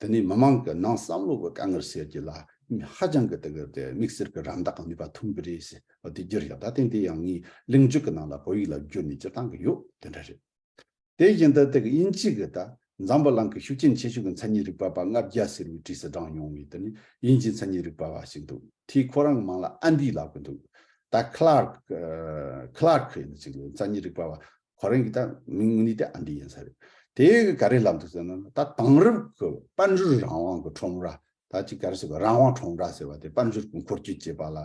Speaker 1: འདི་ནི་མི་མང་གི་ནང་བསམ་བློ་གི་དཀའ་ངལ་སེལ་རྒྱུ་ལ་ཧ་ཅང་གི་དེ་གར་དེ་དམིགས་བསལ་གི་རམ་འདེགས་གང་ནུས་པ་ཐུབ་གི་རེད་ཟེར་བ་དེ་རྒྱུ་རེད་ད་ཐེངས་དེ་ཡང་ངའི་གླེང་བརྗོད་ཀྱི་ནང་ལ་བོད་ཡིག་ལ་བསྒྱུར་ནས་སྤྱིར་བཏང་གི་ཡོད་དེ་འདྲ་རེད། དེ་བཞིན་དུ་དེ་གི་དབྱིན་ཇི་གི་ད་འཛམ་བུ་གླང་གི་ཤུགས་རྐྱེན་ཆེ་ཤོས་ཀྱི་མཚན་ཉིད་རིག་པ་པ་ལྔ་བརྒྱ་ཟེར་བའི་བྲིས་སུ་བགྲང་ཡོང་བའི་དེ་ནི་དབྱིན་ཇིའི་མཚན་ཉིད་རིག་པ་བ་ཞིག་འདུག་དེས་ཁོ་རང་གི་མིང་ལ Andy ལབ་གི་འདུག་ད Clark Clark ཡིན་ཟེར་གི་མཚན་ཉིད་རིག་པ་བ་ཁོ་རང་གི་ད་མིང་ངུ་ནི་ཏེ་ཨ་འདི་ཡིན་ས་རེད། དེ་ག་རེ་ལབ་འདུག་ཟེར་ན་ད་དེང་རབས་ཀྱི་དཔལ་འབྱོར་རང་དབང་གི་ཁྲོམ་ར་ད་ཅིག་ག་རེ་ཟེར་བ་རང་དབང་ཁྲོམ་ར་ཟེར་བ་དེ་དཔལ་འབྱོར་གྱི་འཁོར་སྐྱོད་ཅེས་པ་ལ་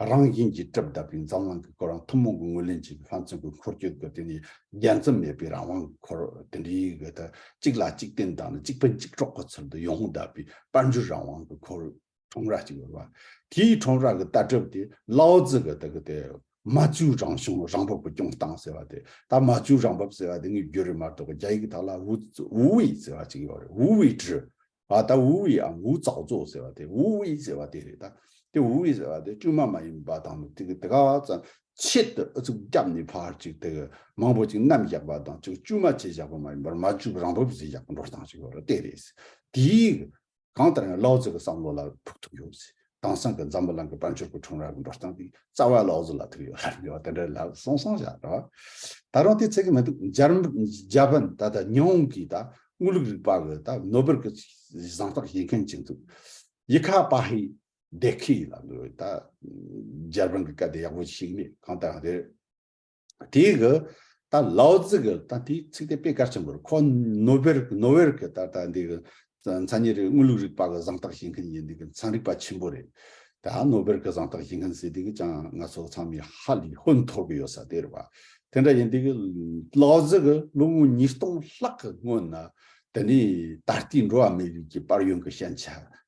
Speaker 1: རང་བཞིན་གྱིས་གྲབས་གདབ་པའི་འཛམ་གླང་གི་སྐོར་རང་ཐུན་མོང་གི་ངོས་ལེན་བྱེད་པའི་ལྷ་མཚོན་གྱི་འཁོར་སྐྱོད་ཀྱི་དེ་ནི་རྒྱ་མཚམས་མེད་པའི་རང་དབང་གི་འཁོར་དེ་འདྲའི་གི་ད་གཅིག་ལ་གཅིག་བརྟེན་དང་ནི་གཅིག་ཕན་གཅིག་གྲོགས་ཀྱི་ཚུལ་དུ་ཡོངས་བསྡད་པའི་དཔལ་འབྱོར་རང་དབང་གི་འཁོར། ཁྲོམ་ར་གཅིག་ཡོད་པ། དེའི་ཁྲོམ་ར་གི་ལྟ་གྲུབ་དེ་ལའོ་ཙི་གི་དག་གི་དེ་མ་ཇུའུ་རང་བྱུང་རང་བབ་ཀྱི་སྐྱོང་སྟངས་ཟེར་བ་དེ་ད་མ་ཇུའུ་རང་བབ་ཟེར་བ་དེ་ངས་བརྒྱུད་རེད་མ་གཏོགས་པ་རྒྱ་ཡིག་གི་དག་ལ་ཝུ་ཝུ་ཝི་ཟེར་བ་གཅིག་ཡོད་རེད་ཝུ་ཝི་ཀྲི། ཨ་ད་ཝུ་ཝི་ཨམ་ཝུ་ཙའོ་ཙོ་ཟེར་བ་དེ་ཝུ་ཝི་ཟེར་བ་དེ་རེད་ད། དེ་ཝུ་ཝི་ཟེར་བ་དེ་བསྐྲུན་མ་མ་ཡིན་པ་དང་དེ་གི་དེ་ག་ཙམ་ཆེད་དུ་ཨུ་ཚུགས་བརྒྱབ་ནས་ཕར་ཅིག་དེ་གི་མང་པོ་ཅིག་གནམ་བཞག་པ་དང་ཅིག་བསྐྲུན་མ་བྱས་བཞག་པ་མ་ཡིན་པར་མ་ཇུའུ་རང་བབ་བཟོས་བཞག་པའི་འགྲོ་སྟངས་ཞིག་ཡོད་རེད་དེ་རེད། དེའི་གང་ལྟར་ཡང་ལའོ་ཙི་གི་བསམ་བློ་ལ་ཕུགས་ཐུག་ཡོད་ཚེ་དེང་སང་གི་འཛམ་བུ་གླིང་གི་དཔལ་འབྱོར་གྱི་ཁྲོམ་ར་གི་འགྲོ་སྟངས་དེ་རྩ་བ་ལའོ་ཙི་ལ་ཐུག་ཡོད་ལབ་ཡོད་དེ་འདྲའི་ལབ་སོང་སོང་བཞག་རོགས། ད་རུང་དེ་ཚད་ཀྱི་མི་འདུག་འཇར་པན་ད་ལྟ་ཉི་འོང་གི་ད་དངུལ་ལུགས་རིག་པ་གི་ད་ནོ་སྦེལ་གི་བཟང་རྟགས་བཞེས་མཁན་གཅིག་འདུག་ཡི་ཁ་པ་ཧི་དེ་ཁི་ལ་འདུག་ད་འཇར་པན་གི་སྐད་དེ་ཡག་པོ་ཞིག་མེད་གང་ལྟར་ཡང་རེད། དེའི་གི་ད་ལའོ་ཙི་གི་ད་དེའི་ཚིག་དེ་དཔེ་གལ་ཆེན་པོ་རེད་ཁོ་ནོ་བེར་ནོ་བེར་གི་ད་ད་འདི་གི་མཚན་ཉིད་རིག་དངོས་ལུགས་རིག་པ་གི་གཟེངས་རྟགས་བཞེས་མཁན་གྱི་འདི་གི་ཚན་རིག་པ་ཆེན་པོ་རེད། ད་ནོ་བེར་གི་གཟེངས་རྟགས་བཞེས་མཁན་ཟེར་དུས་གི་ཀྱང་ང་ཚོ་ཚང་མས་ཧ་ལས་ཧོན་འཐོར་གི་ཡོད་ས་དེ་རེད་བ། དེ་འདྲ་ཡིན་དུས་གི་ལའོ་ཙི་གི་ལོ་ངོ་ཉིས་སྟོང་ལྷག་གི་སྔོན་ན་དེ་ནས་ད་ལྟའི་འགྲོ་བ་མིའི་རིགས་ཀྱི་དཔར་ཡོན་གི་ཞན་ཆ་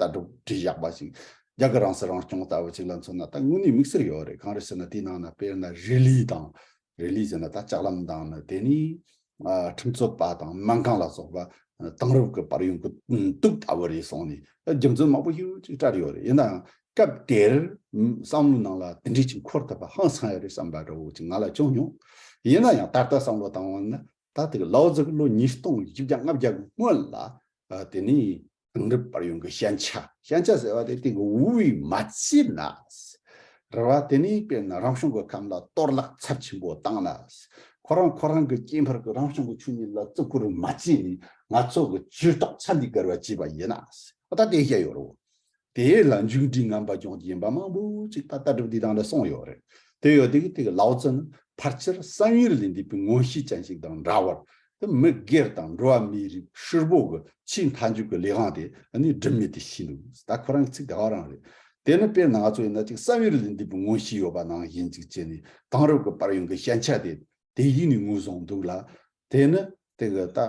Speaker 1: ལྟ་གྲུབ་དྲིལ་བཞག་པ་ཞིག་རྒྱ་གར་རང་སྲིད་རང་སྐྱོང་ལྟ་བུ་ཞིག་ལ་མཚོན་ན་ད་དངོས་གནས་དམིགས་བསལ་ཡོད་རེད་གང་རེད་ཟེར་ན་དེའི་ནང་ན་དཔེར་ན་རེ་ལི་དང། རེ་ལི་ཟེར་ན་ད་ལྕགས་ལམ་དང་ནི་དེ་ནི། ཁྲིམས་རྩོད་པ་དང་སྨན་ཁང་ལ་སོགས་པ་དེང་རབས་ཀྱི་བར་ཡོང་གི་འདུག་ལྟ་བུ་རེད་གསུངས་ནས་རྒྱུ་མཚན་མང་པོ་ཞིག་ཅིག་བཀྲལ་ཡོད་རེད་ཡིན་ནའང་སྐབས་དེར་བསམ་བློའི་ནང་ལ་དེ་འདྲའི་ཅིག་འཁོར་ཐུབ་པ་ཧང་སང་ཡོད་རེད་བསམ་པ་འདྲ་བོ་ཅིག་ང་ལ་བྱུང་མྱོང། ཡིན་ན་ཡང་ད་ལྟ་བསམ་བློ་བཏང་བ་ན་ད་ཐེངས་ལའོ་ཙི་གི་ལོ་ཉིས་སྟོང་བཞི་བརྒྱ་ལྔ་བརྒྱ་གི་སྔོན་ལ་དེ་ནི། དེང་རབས་པར་ཡོང་གི་ཤན་ཆ། ཤན་ཆ་ཟེར་བ་དེ་དེང་གི་ཝུའུ་ཝུའི་མ་ཅི་ན། རེད་བ། དེ་ནི་དཔེར་ན་རང་བྱུང་གི་ཁམས་ལ་གཏོར་བརླག་ཚབས་ཆེན་པོ་བཏང་ན། ཁོ་རང་ཁོ་རང་གི་སྐྱེས་འཕེལ་གྱི་རང་བྱུང་གི་ཆོས་ཉིད་ལ་བརྩི་བཀུར་མ་བྱས་ནས་ང་ཚོ་གི་ཇུས་གཏོགས་ཚ་འདི་བསྒར་བ་བྱས་པ་ཡིན་ན། ད་དེ་ཤེས་ཡོད་རེད་བ། དེ་ལ་མཇུག་འགྲིལ་ངམ་པ་སྦྱོང་རྒྱུ་ཡིན་པ་མང་པོ་ཅིག་ད་ལྟ་གྲུབ་འདིའི་གདངས་ལས་སོང་ཡོད་རེད། དེ་ཡོད་དུས་དེ་གི་ལའོ་ཙི་ནི་ཕར་ཆེར་བསམ་ཡུལ་ལས་འདས་པའི་དངོས་གཤིས་ཅན་ཞིག་དང་འདྲ་བར། དེ་མི་སྒེར་དང་འགྲོ་བ་མིའི་རིགས་ཧྲིལ་བོ་གི་ཆེས་མཐའ་མཇུག་གི་ལས་དབང་དེ་ནི་སྒྲིབ་མེད་དུ་ཤིས་འདུག་ད་ཁོ་རང་གི་ཚིག་དེ་ཧ་རང་རེད། དེ་ནི་དཔེར་ན་ང་ཚོ་ཡིན་ན་ཅིག་བསམ་ཡུལ་ལས་འདས་པའི་དངོས་གཤིས་ཡོད་པ་ནང་བཞིན་ཅིག་བྱས་ནས་དེང་རབས་ཀྱི་པར་ཡོང་གི་ཞན་ཆ་དེ་དེ་ཡིན་ནས་ངོས་བཟུང་འདུག་ལ། དེ་ནི་དེ་གི་ད།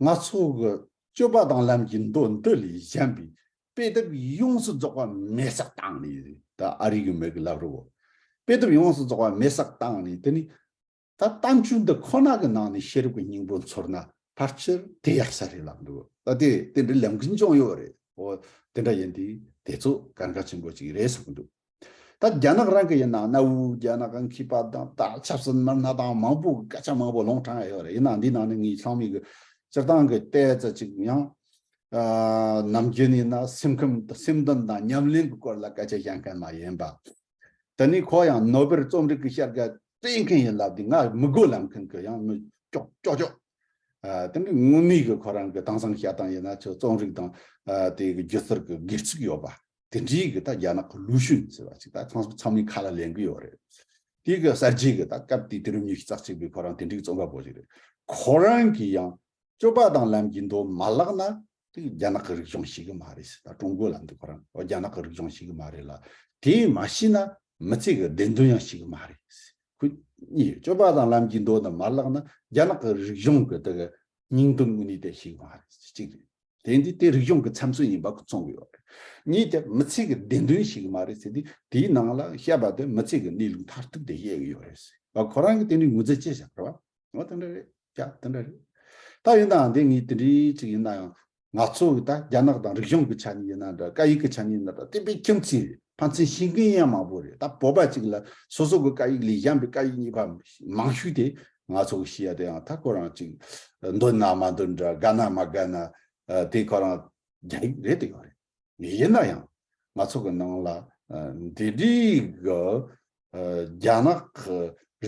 Speaker 1: སྣང། སྣ་ཚོགས་ཀྱི་སྤྱོད་པ་དང་ལམ་གྱི་མདོ་འདི་ལས་གཞན་པའི་དཔེ་དེབ་ཡོངས་སུ་རྫོགས་པ་མེད་བསགས་བཏང་ནས་ད་ཨ་རིག་གི་མི་གི་ལབ་རོའོ། དཔེ་དེབ་ཡོངས་སུ་རྫོགས་པ་མེད་བསགས་བཏང་ནས་དེ་ནི་ད་གཏམ་རྒྱུད་འདི་ཁོ་ན་གི་ནང་ནས་ཤེས་རབ་ཀྱི་སྙིང་པོ་འཚོལ་ན་ཕར་ཆེར་དེ་ཡག་ས་རེད་ལབ་འདུག་ད་དེ་དེ་འདྲའི་ལམ་གྱི་འཇོན་ཡོད་རེད་འོ་དེ་འདྲ་ཡིན་དུས་དེ་ཚོ་གར་འགའ་ཆེན་པོ་ཅིག་རེད་བསམ་གྱི་འདུག། ད་རྒྱ་ནག་རང་གི་ཡིན་ནའང་གནའ་བོའི་རྒྱ་ནག་གི་མཁས་པ་དང་ད་ཆབ་སྲིད་མི་སྣ་དང་མང་པོ་སྐད་ཆ་མང་པོ་ལོང་དྲངས་ཡོད་རེད་ཡིན་ནའང་འདིའི་ནང་ནས་ངས་ཚང་མས་གི་སྤྱིར་བཏང་གི་ལྟས་ཙེ་ཅིག་ཡང། ནམ་རྒྱུན་ནས་ཡིན་ན་སེམས་ཁམས་སེམས་འདུན་དང་ཉམས་གླེང་གི་སྐོར་ལ་སྐད་ཆ་བཤད་མཁན་མ་ཡིན་པ། དེ་ནས་ཁོ་ཡང་ནོ་བེར་རྩོམ་རིག་གི་ཤར་སྐད་སྤེལ་མཁན་ཡིན་ལབ་དེ་ང་མི་དགོས་ལབ་མཁན་གི་ཡང་མི་ཀྱོག་ཀྱོག་ཀྱོག། དེ་འདྲའི་དངོས་གནས་གི་ཁོ་རང་གི་དྭངས་གཙང་བཤད་སྟངས་ཡིན་ན་ཆོག་རྩོམ་རིག་དང་དེའི་སྒྱུ་རྩལ་གི་སྒེར་ཚུགས་ཡོད་པ། དེ་འདྲིའི་གི་ད་རྒྱ་ནག་གི་ལུགས་ཤུན་ཟེར་བ་ཅིག་ད་ཁང་སུ་ཚང་མའི་ཁ་ལ་ལེན་གི་ཡོད་རེད། དེ་གི་གསར་བརྗེ་གི་ད་སྐབས་དེའི་དུས་རབས་ཉི་ཤུ་རྩ་གཅིག་པའི་ཁོ་རང་དེ་འདྲིའི་རྩོམ་པ་པོ་ཞིག་རེད། ཁོ་རང་གི་ཡང་སྤྱོད་པ་དང་ལམ་གྱི་མདོ་མ་བཀླགས་ན་དེ་གི་རྒྱ་ནག་གི་རིག་གཞུང་ཤེས་གི་མ་རེད་ཟེར་ད་ཀྲུང་གོའི་ལམ་དེ་ཁོ་རང་རྒྱ་ནག་གི་རིག་གཞུང་ཤེས་གི་མ་རེད་ལ་དེ་མ་ཤེས་ན་མི་ཚེ་གི་བདེན་དོན་ཡང་ཤེས་གི་མ་རེད་ཟེར་ཁོས་གཉིས་ཡོད་སྤྱོད་པ་དང་ལམ་གྱི་མདོ་དེ་མ་བཀླགས་ན་རྒྱ་ནག་གི་རིག་གཞུང་གི་དེ་གི་སྙིང་དོན་དངོས་གནས་དེ་ཤེས་གི་མ་རེད་ཟེར་གཅིག་རེད། དེ་འདི་དེ་རིག་གཞུང་གི་འཚམས་སྲོལ་ཡིན་པ་གོ་མཚོན་གི་ཡོད་རེད། གཉིས་དེ་མི་ཚེ་གི་བདེན་དོན་ཞིག་གི་མ་རེད་ཟེར་དུས་དེའི་ནང་ལ་བཤད་པ་དེ་མི་ཚེ་གི་གནས་ལུགས་མཐར་ཐུག་དེ་བཤད་གི་ཡོད་རེད་ཟེར་བ་ཁོ་རང་གི་དེ་འདྲའི་ངོས་འཛིན་བྱེད་བཞག་རེད་བ། འོ་དེ་འདྲ་རེད་ཀྱ་དེ་འདྲ་རེད། ད་ཡིན་ནའང་དེ་ངས་དེ་འདྲའི་ཅིག་ཡིན་ན་ཡང། ང་ཚོ་གི་ད་རྒྱ་ནག་དང་རིག་གཞུང་གི་ཆ་ནས་ཡིན་ན་འདྲ་བཀའ་ཡིག་གི་ཆ་ནས་ཡིན་ན་འདྲ་བསྟན་པའི་ཁྱིམ་མཚེས་རེད་ཕ་མཚན་ཤིང་ཀིང་ཡང་མང་པོ་རེད་ད་བོད་པ་ཅིག་ལ་སོ་སོ་གི་བཀའ་ཡིག་ལས་གཞན་པའི་བཀའ་ཡིག་གཉིས་པ་མང་ཤོས་དེ་ང་ཚོ་གི་ཤི་ཡ་དེ་ཡང་ད་ཁོ་རང་ཅིག་འདོད་ན་མ་འདོད་འདྲ་དགའ་ན་མ་དགའ་ན་དེ་ཁོ་རང་རྒྱ་ཡིག་རེད་དེ་ཡོད་རེད་ཡིན་ན་ཡང་ང་ཚོ་གི་ནང་ལ་འདི་རིགས་གི་རྒྱ་ནག་གི་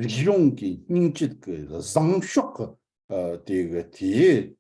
Speaker 1: རིག་གཞུང་གི་སྙིང་བཅུད་གི་བཟང་ཕྱོགས་གི་དེ་གི་དེའི་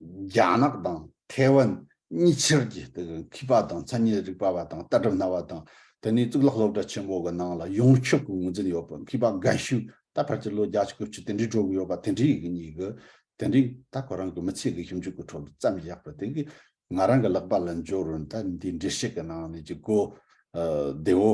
Speaker 1: རྒྱ་ནག་དང་ཐའེ་ཝན་གཉིས་ཕྱིར་གྱི་མཁས་པ་དང་མཚན་ཉིད་རིག་པ་བ་དང་ལྟ་གྲུབ་སྣ་བ་དང་དེ་ནས་གཙུག་ལག་སློབ་གྲྭ་ཆེན་མོ་གི་ནང་ལ་ཡོངས་ཁྱབ་ཀྱི་ངོས་འཛིན་ཡོད་པའི་མཁས་པ་འགའ་ཤོས་ད་བར་གྱི་ལོ་བརྒྱ་ཕྱི་གོས་ཆུ་དེ་འདྲའི་དྲོ་གི་ཡོད་པ་དེ་འདྲའི་ཡིག་གཉིས་ཀྱི་དེ་འདྲའི་ད་ཁོ་རང་གི་མི་ཚེ་གི་ཞིབ་འཇུག་གི་ཁྲོད་བརྩམས་བཞག་པ་དེ་གིས་ང་རང་གི་ལག་པ་ལ་འབྱོར་རུང་ད་འདིའི་འགྲེལ་བཤད་ཀྱི་ནང་ནས་ཀྱི་གོ་བདེ་བོ་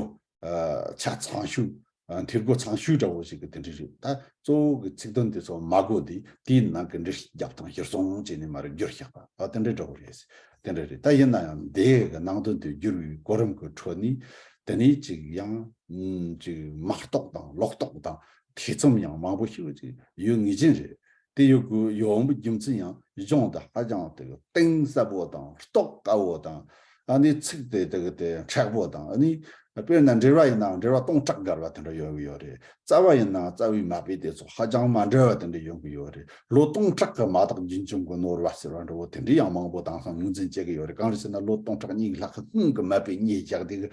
Speaker 1: ཆ་ཚང་ཤོས། འཐེར་སྒོ་ཚང་ཤོས་འདྲ་བོ་ཞིག་གི་དེ་འདྲི་རེད། ད་གཙོ་བོ་གི་ཚིག་དོན་དེ་ཚོ་མ་གོ་དེ་དེའི་ནང་གི་འདྲི་རྒྱབ་དང་བསྒྱུར་སོང་བྱས་ནས་མ་རེད་བསྒྱུར་ཤག་པ་ད་དེ་འདྲི་འདྲ་བོ་རེད། དེ་འདྲ་རེད་ད་ཡིན་ན་ཡང་དེ་གི་ནང་དོན་དེ་བསྒྱུར་བའི་གོ་རིམ་གི་ཁྲོད་ནས་དེ་ནས་ཅིག་ཡང་ཅིག་མ་རྟོགས་དང་ལོག་རྟོགས་དང་ཐེ་ཚོམ་ཡང་མང་པོ་ཞིག་ཡོད་ངེས་ཅན་རེད། དེ་ཡོད་དགུ་ཡོད་འོང་བའི་རྒྱུ་མཚན་ཡང་གཞུང་དེ་ཧ་ཅང་དེ་གི་གཏིང་ཟབ་བོ་དང་རྟོགས་དཀའ་བོ་དང་ཨ་ནི་ཚིག་དེ་དེ་གི་དེ་མཁྲེགས་བོ་དང་ཨ་ནི་དཔེར་ན་འགྲེལ་བ་ཡིན་ནའང་འགྲེལ་བ་སྟོང་ཕྲག་འགར་བ་དེ་འདྲ་ཡོང་གི་ཡོད་རེད་རྩ་བ་ཡིན་ནའང་རྩ་བའི་མ་དཔེ་དེ་ཚོ་ཧ་ཅང་མ་འདྲ་བ་དེ་འདྲ་ཡོང་གི་ཡོད་རེད་ལོ་སྟོང་ཕྲག་གི་མ་དག་རྒྱུན་འབྱུང་གི་ནོར་བ་ཟེར་བ་འདྲ་བོ་དེ་འདྲ་ཡང་མང་བོ་དྭངས་སང་ངོས་འཛིན་བྱེད་ཀྱི་ཡོད་རེད་གང་རེད་ཟེར་ན་ལོ་སྟོང་ཕྲག་གཉིས་ལྷག་གི་སྔོན་གི་མ་དཔེ་གཉིས་རྒྱག་དེ་གི་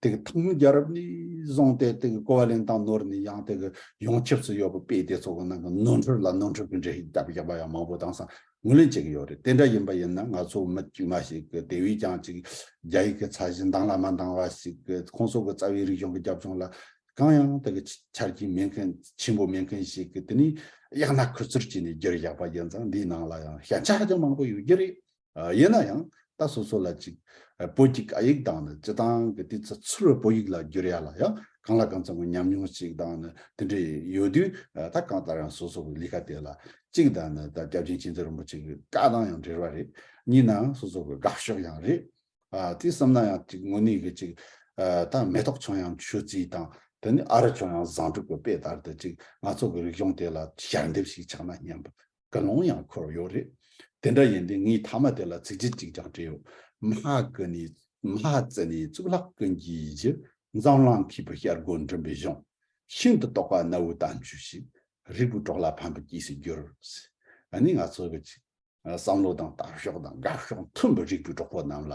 Speaker 1: དེ་གི་ཐང་རྒྱལ་རབས་ནི་བཟུང་སྟེ་དེ་གི་ཀོ་བ་ལན་དང་ནོར་ནི་ཡང་དེ་གི་ཡོངས་ཁྱབས་སུ་ཡོད་པ་དཔེ་དེ་ཚོ་གི་ནང་གི་ནོར་འཁྲུལ་ལ་ནོར་འཁྲུལ་གི་འགྲེལ་བཤད་རྒྱབ་པ་ཡང་མང་པོ་དང་སང་ངོས་ལེན་བྱེད་གི་ཡོད་རེད་དེ་འདྲ་ཡིན་པ་ཡིན་ན་ང་ཚོ་མི་དཀྱུས་མ་ཞིག་གི་དེ་བས་ཀྱང་ཅིག་རྒྱ་ཡིག་གི་ཚ་གཞི་འདང་ལ་མ་འདང་བ་ཞིག་གི་ཁོང་ཚོ་གི་རྩ་བའི་རིག་གཞུང་གི་རྒྱབ་ལྗོངས་ལ་གང་ཡང་དེ་གི་ཆ་རྐྱེན་མེད་མཁན་ཆེན་པོ་མེད་མཁན་ཞིག་གི་དེ་ནི་གཡག་ན་ཁུ་ཚུར་བྱས་ནས་རྒྱུར་བཞག་པ་ཡིན་ཙང་འདིའི་ནང་ལ་ཡང་ཞན་ཆ་ཧ་ཅང་མང་པོ་ཡོད་རྒྱུ་རེད། ཡིན་ན་ཡང་ད་སོ་སོ་ལ་ཅིག་བོད་ཀྱི་སྐད་ཡིག་དང་ནི་སྤྱི་དང་གི་དུས་ཚོད་ཚུར་བོད་ཡིག་ལ་བསྒྱུར་ཡག་ལ་ཡང་གང་ལ་གང་འཚམ་གི་ཉམས་མྱོང་ཅིག་དང་ནི་དེ་འདྲ་ཡོད་དུས་ད་གང་ལྟར་ཡང་སོ་སོ་གི་ལི་ཁ་དེ་ལ་ཅིག་དང་ནི་ད་སྐྱབས་ཆེན་ཆེན་ཚེ་རིན་པོ་ཆེ་གི་བཀའ་དང་ཡང་འབྲེལ་བ་རེད་གཉིས་ན་སོ་སོ་གི་དགའ་ཕྱོགས་ཡང་རེད། དེ་བསམ་ན་ཡང་ཅིག་དངོས་གནས་གི་ཅིག་ད་མེ་ཏོག་ཆུང་ཡང་ཆུ་རྩི་དང་དེ་ནི་ཨ་ར་ཆུང་ཡང་བཟང་དྲུག་གི་དཔེ་ལྟར་དུ་ཅིག་ང་ཚོ་གི་རིག་གཞུང་དེ་ལ་ཞལ་འདེབས་ཤིག་ཆགས་ན་སྙམ། དགའ་སློང་ཡང་འཁོར་བ་ཡོད་རེད། དེ་འདྲ་ཡིན་དུས་ངས་མཐའ་མ་དེ་ལ་ཚིག་ཕྲད་ཅིག་ཀྱང་བྲིས་ཡོད། མ་ཧཀ྄་ནི། Mahakâ། ནི་གཙུག་ལག་ཀུན་གྱི་གཞི། འཛམ་གླང་མཁས་པའི་ཤར་སྒོ་འགྲིམ་པའི་གཞུང། ཤིན་ཏུ་རྟོགས་པ་གནའ་བོའི་གཏམ་རྒྱུད་ཞིག། རིགས་པའི་གྲོགས་ལ་ཕན་པའི་སྐྱེས་སུ་གྱུར། ནི་ང་ཚོ་གི། བསམ་བློ་དང་ལྟ་ཕྱོགས་དང་དགའ་ཕྱོགས་མཐུན་པའི་རིགས་པའི་གྲོགས་པོ་རྣམས་ལ།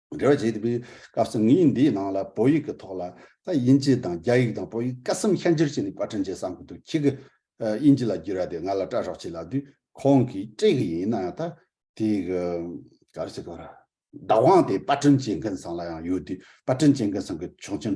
Speaker 1: འབྲེལ་བ་བྱེད་པའི་སྐབས་སུ་ངས་འདིའི་ནང་ལ་བོད་ཡིག་གི་ཐོག་ལ་དབྱིན་ཇི་དང་རྒྱ་ཡིག་དང་བོད་ཡིག་ཀ་གསུམ་ཤར་འགྱུར་བྱས་ནས་པར་སྐྲུན་བྱེད་བསམ་གི་འདུག་ཁྱེད་ཀྱིས་དབྱིན་ཇི་ལ་བསྒྱུར་བ་དེ་ང་ལ་སྤྲད་རོགས་བྱས་ལབ་དུས་ཁོང་གིས་སྤྲད་གི་ཡིན་ནའང་ད་དེ་གི་ག་རེ་བྱེད་དགོས་ར། བདག་དབང་དེ་པར་སྐྲུན་བྱེད་མཁན་ཚང་ལ་ཡང་ཡོད་དུས་པར་སྐྲུན་བྱེད་མཁན་ཚང་གི་ཆོག་མཆན་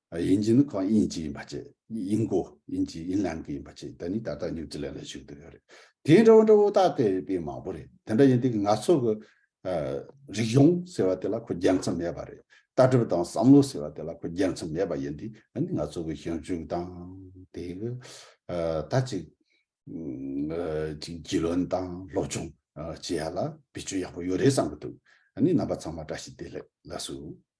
Speaker 1: དབྱིན་ཇི་ནི་གང་དབྱིན་ཇི་ཡིན་པ་བཅས་དབྱིན་གོ་དབྱིན་ཇི་དབྱིན་ལན་གོ་ཡིན་པ་བཅས་དེ་ནི་ད་ལྟ་ནིའུ་ཛི་ལན་ལ་བཞུགས་འདུག་ཡོད་རེད་དེ་འདྲ་བོ་འདྲ་བོ་དག་དེ་བས་མང་བོ་རེད་དེ་འདྲ་ཡིན་དུས་ང་ཚོ་གི། རིག་གཞུང་ཟེར་བ་དེ་ལ་ཁོ་རྒྱལ་མཚམས་མེད་པ་རེད་ལྟ་གྲུབ་དང་བསམ་བློ་ཟེར་བ་དེ་ལ་ཁོ་རྒྱལ་མཚམས་མེད་པ་ཡིན་དུས་ཨ་ནི་ང་ཚོ་གི་ཞིབ་འཇུག་དང་དེ་གི། ད་ཅིག། རྒྱུས་ལོན་དང་སློབ་སྦྱོང་བྱེད་ཡ་ལ་བེད་སྤྱོད་ཡག་པོ་ཡོད་རེད་བསམ་གི་འདུག་ཨ་ནི་རྣམ་པ་ཚང་མ་བཀྲ་ཤིས་བདེ་ལེགས་ལགས་སུ།